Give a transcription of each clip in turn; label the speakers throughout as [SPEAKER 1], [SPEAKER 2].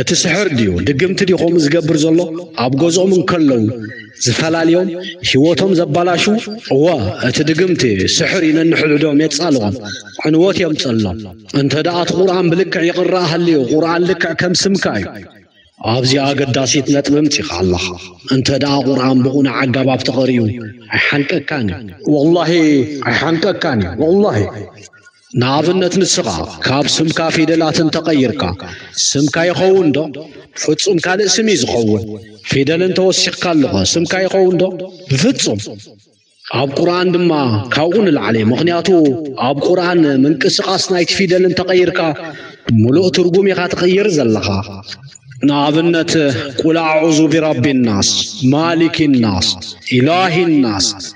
[SPEAKER 1] እቲ ስሕር ድዩ ድግምቲ ድዩ ከምኡ ዝገብር ዘሎ ኣብ ገዝኦም እንከለዉ ዝፈላልዮም ህይወቶም ዘባላሹ እወ እቲ ድግምቲ ስሕር እዩ ነንሕድሕዶም የጻልኦም ዕንወት የምጸሎም እንተ ደኣ እቲ ቁርኣን ብልክዕ ይቕረኣ ሃልዩ ቁርኣን ልክዕ ከም ስምካ እዩ ኣብዚ ኣገዳሲት ነጥቢ ምጺኻ ኣለኻ እንተ ደኣ ቁርኣን ብቑኑዕ ኣገባብ ተቐሪኡ ኣይሓንቀካን እዩ ወላሂ ኣይሓንቀካን እዩ ወላሂ ንኣብነት ንስኻ ካብ ስምካ ፊደላት እንተቐይርካ ስምካ ይኸውን ዶ? ፍጹም ካልእ ስም እዩ ዝኸውን። ፊደል እንተወሲኽካሉኸ ስምካ ይኸውን ዶ? ብፍጹም። ኣብ ቁርኣን ድማ ካብኡ ንላዕሊ ምኽንያቱ ኣብ ቁርኣን ምንቅስቓስ ናይቲ ፊደል እንተቐይርካ ምሉእ ትርጉም ኢኻ ትቕይር ዘለኻ። ንኣብነት ቁል ኣዑዙ ቢረቢ ናስ ማሊኪ ናስ ኢላሂ ናስ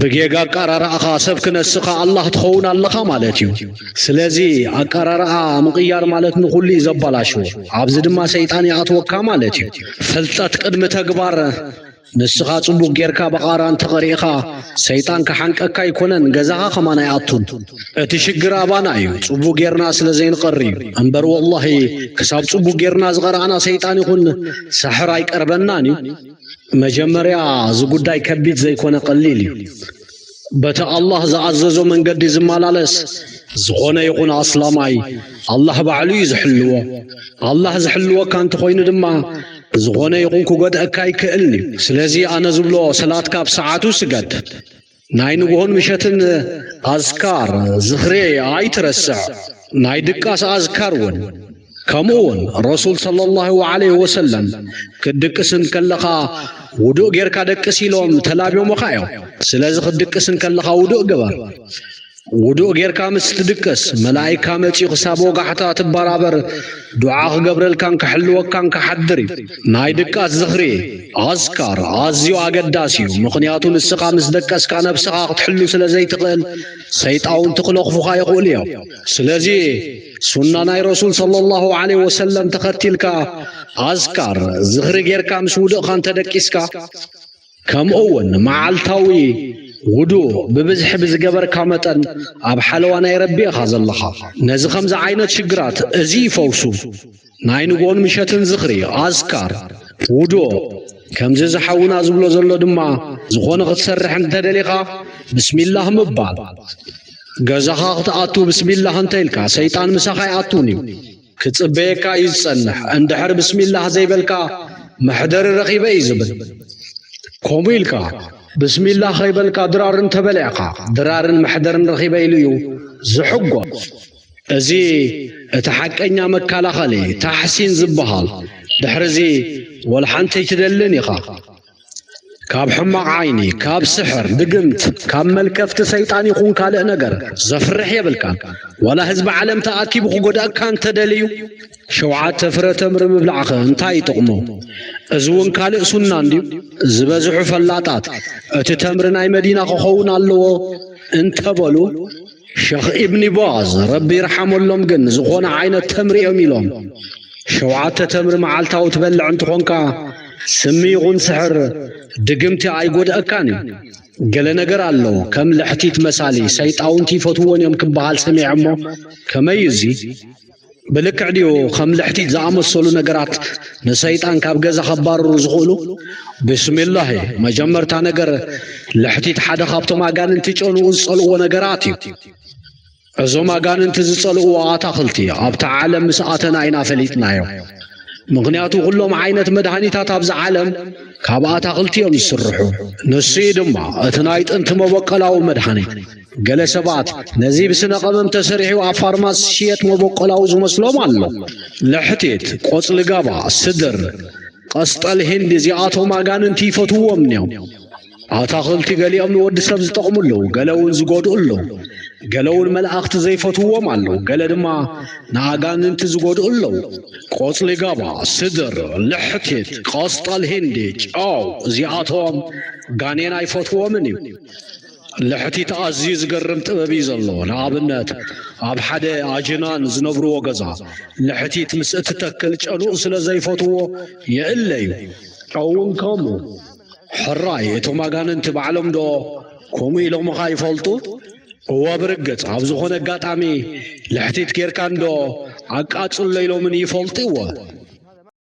[SPEAKER 1] ብጌጋ ኣቃራርኣኻ ሰብ ክነስኻ ኣላህ ትኸውን ኣለኻ ማለት እዩ ስለዚ ኣቃራርኣ ምቕያር ማለት ንኹሉ እዩ ዘባላሽዎ ኣብዚ ድማ ሰይጣን ይኣትወካ ማለት እዩ ፍልጠት ቅድሚ ተግባር ንስኻ ጽቡቅ ጌርካ በቓራ እንተቐሪእኻ ሰይጣን ክሓንቀካ ኣይኮነን ገዛኻ ከማን ኣይኣቱን እቲ ሽግር ኣባና እዩ ጽቡቅ ጌርና ስለ ዘይንቐሪ እዩ እምበር ወላሂ ክሳብ ጽቡቅ ጌርና ዝቐረኣና ሰይጣን ይኹን ሳሕር ኣይቀርበናን እዩ መጀመርያ እዚ ጉዳይ ከቢድ ዘይኮነ ቀሊል እዩ። በቲ ኣላህ ዝኣዘዞ መንገዲ ዝመላለስ ዝኾነ ይኹን ኣስላማይ ኣላህ ባዕሉ እዩ ዝሕልዎ። ኣላህ ዝሕልወካ እንተኾይኑ ድማ ዝኾነ ይኹን ክጎድኣካ ኣይክእልን እዩ። ስለዚ ኣነ ዝብሎ ሰላትካ ኣብ ሰዓቱ ስገድ። ናይ ንግሆን ምሸትን ኣዝካር ዝኽሬ ኣይትረስዕ፣ ናይ ድቃስ ኣዝካር እውን ከምኡ እውን ረሱል ሰለላሁ ዐለይሂ ወሰለም ክትድቅስ እንከለኻ ውዱእ ጌርካ ደቅስ ኢሎም ተላብዮምኻ እዮም። ስለዚ ክትድቅስ እንከለኻ ውዱእ ግበር። ውዱእ ጌርካ ምስ ትድቅስ መላኢካ መጺኡ ክሳብ ወጋሕታ ትበራበር ዱዓ ክገብረልካን ክሕልወካን ክሓድር እዩ። ናይ ድቃስ ዝኽሪ ኣዝካር ኣዝዩ ኣገዳሲ እዩ፣ ምኽንያቱ ንስኻ ምስ ደቀስካ ነብስኻ ክትሕሉ ስለ ዘይትኽእል ሰይጣውንቲ ክለኽፉኻ ይኽእሉ እዮም። ስለዚ ሱና ናይ ረሱል ሰለላሁ ዐለይሂ ወሰለም ተኸቲልካ ኣዝካር ዝኽሪ ጌርካ ምስ ውድእኻ እንተደቂስካ ከምኡውን መዓልታዊ ውዱእ ብብዝሒ ብዝገበርካ መጠን ኣብ ሓለዋ ናይ ረቢ ኢኻ ዘለኻ። ነዚ ከምዚ ዓይነት ሽግራት እዚ ይፈውሱ ናይ ንግሆን ምሸትን ዝኽሪ፣ ኣዝካር፣ ውዱእ ከምዚ እዚ ሓውና ዝብሎ ዘሎ ድማ ዝኾነ ክትሰርሕ እንተደሊኻ ብስሚላህ ምባል ገዛኻ ክትኣቱ ብስሚላህ እንተኢልካ ሰይጣን ምሳኻ ኣይኣቱን እዩ። ክጽበየካ እዩ ዝጸንሕ እንድሕር ብስሚላህ ዘይበልካ መሕደሪ ረኺበ እዩ ዝብል ከምኡ ኢልካ ብስሚላህ ከይበልካ ድራር እንተበሊዕካ ድራርን መሕደርን ረኺበ ኢሉ እዩ ዝሕጎስ እዚ እቲ ሓቀኛ መከላኸሊ ታሕሲን ዝበሃል ድሕርዚ ወልሓንቲ ኣይትደልን ኢኻ ካብ ሕማቕ ዓይኒ፣ ካብ ስሕር፣ ድግምት፣ ካብ መልከፍቲ ሰይጣን ይኹን ካልእ ነገር ዘፍርሕ የብልካን። ዋላ ህዝቢ ዓለም ተኣኪቡ ክጎድኣካ እንተደልዩ ሸውዓተ ፍረ ተምሪ ምብላዕኸ እንታይ ይጥቕሞ? እዚ እውን ካልእ ሱና እንድዩ። ዝበዝሑ ፈላጣት እቲ ተምሪ ናይ መዲና ክኸውን ኣለዎ እንተበሉ ሸኽ ኢብኒ ባዝ ረቢ ይርሓመሎም ግን ዝኾነ ዓይነት ተምሪ እዮም ኢሎም ሸውዓተ ተምሪ መዓልታዊ ትበልዕ እንትኾንካ ስሚ ይኹን ስሕር ድግምቲ ኣይጎድኣካን እዩ ገለ ነገር ኣለዎ ከም ልሕቲት መሳሊ ሰይጣውንቲ ይፈትውዎን እዮም ክበሃል ሰሚዐ እሞ ከመይ እዩ እዚ ብልክዕ ድዩ ከም ልሕቲት ዝኣመሰሉ ነገራት ንሰይጣን ካብ ገዛ ከባርሩ ዝኽእሉ ብስሚላህ መጀመርታ ነገር ልሕቲት ሓደ ካብቶም ኣጋንንቲ ጨንኡ ዝጸልእዎ ነገራት እዩ እዞም ኣጋንንቲ ዝጸልእዎ ኣታኽልቲ ኣብታ ዓለም ምስ ኣተና ኢና ፈሊጥናዮ ምኽንያቱ ዅሎም ዓይነት መድሃኒታት ኣብዚ ዓለም ካብ ኣታኽልቲ እዮም ዝስርሑ ንሱ እዩ ድማ እቲ ናይ ጥንቲ መበቀላዊ መድሃኒት ገለ ሰባት ነዚ ብስነ ቀመም ተሰሪሑ ኣብ ፋርማሲ ዝሽየጥ መበቆላዊ ዝመስሎም ኣሎ። ለሕቲት፣ ቆጽሊ ጋባ፣ ስድር፣ ቀስጠል ሂንዲ እዚኣቶም ኣጋንንቲ ይፈትውዎም እዮም። ኣታኽልቲ ገሊኦም ንወዲ ሰብ ዝጠቕሙ ኣለዉ፣ ገለ እውን ዝጎድኡ ኣለዉ። ገለ እውን መላእኽቲ ዘይፈትውዎም ኣለዉ፣ ገለ ድማ ንኣጋንንቲ ዝጎድኡ ኣለዉ። ቆጽሊ ጋባ፣ ስድር፣ ልሕቲት፣ ቆስጣል ሂንዲ፣ ጨው እዚኣቶም ጋኔን ኣይፈትዎምን እዩ። ልሕቲት ኣዝዩ ዝገርም ጥበብ እዩ ዘለዎ። ንኣብነት ኣብ ሓደ ኣጅናን ዝነብርዎ ገዛ ልሕቲት ምስ እትተክል ጨኑኡ ስለ ዘይፈትዎ የእለ እዩ። ጨውን ከምኡ። ሕራይ እቶም ኣጋንንቲ ባዕሎም ዶ ከምኡ ኢሎምኻ ይፈልጡ? እወ ብርግጽ ኣብ ዝኾነ ኣጋጣሚ ልሕቲት ጌርካ እንዶ ኣቃጽሎ ኢሎምኒ ይፈልጡ እወ።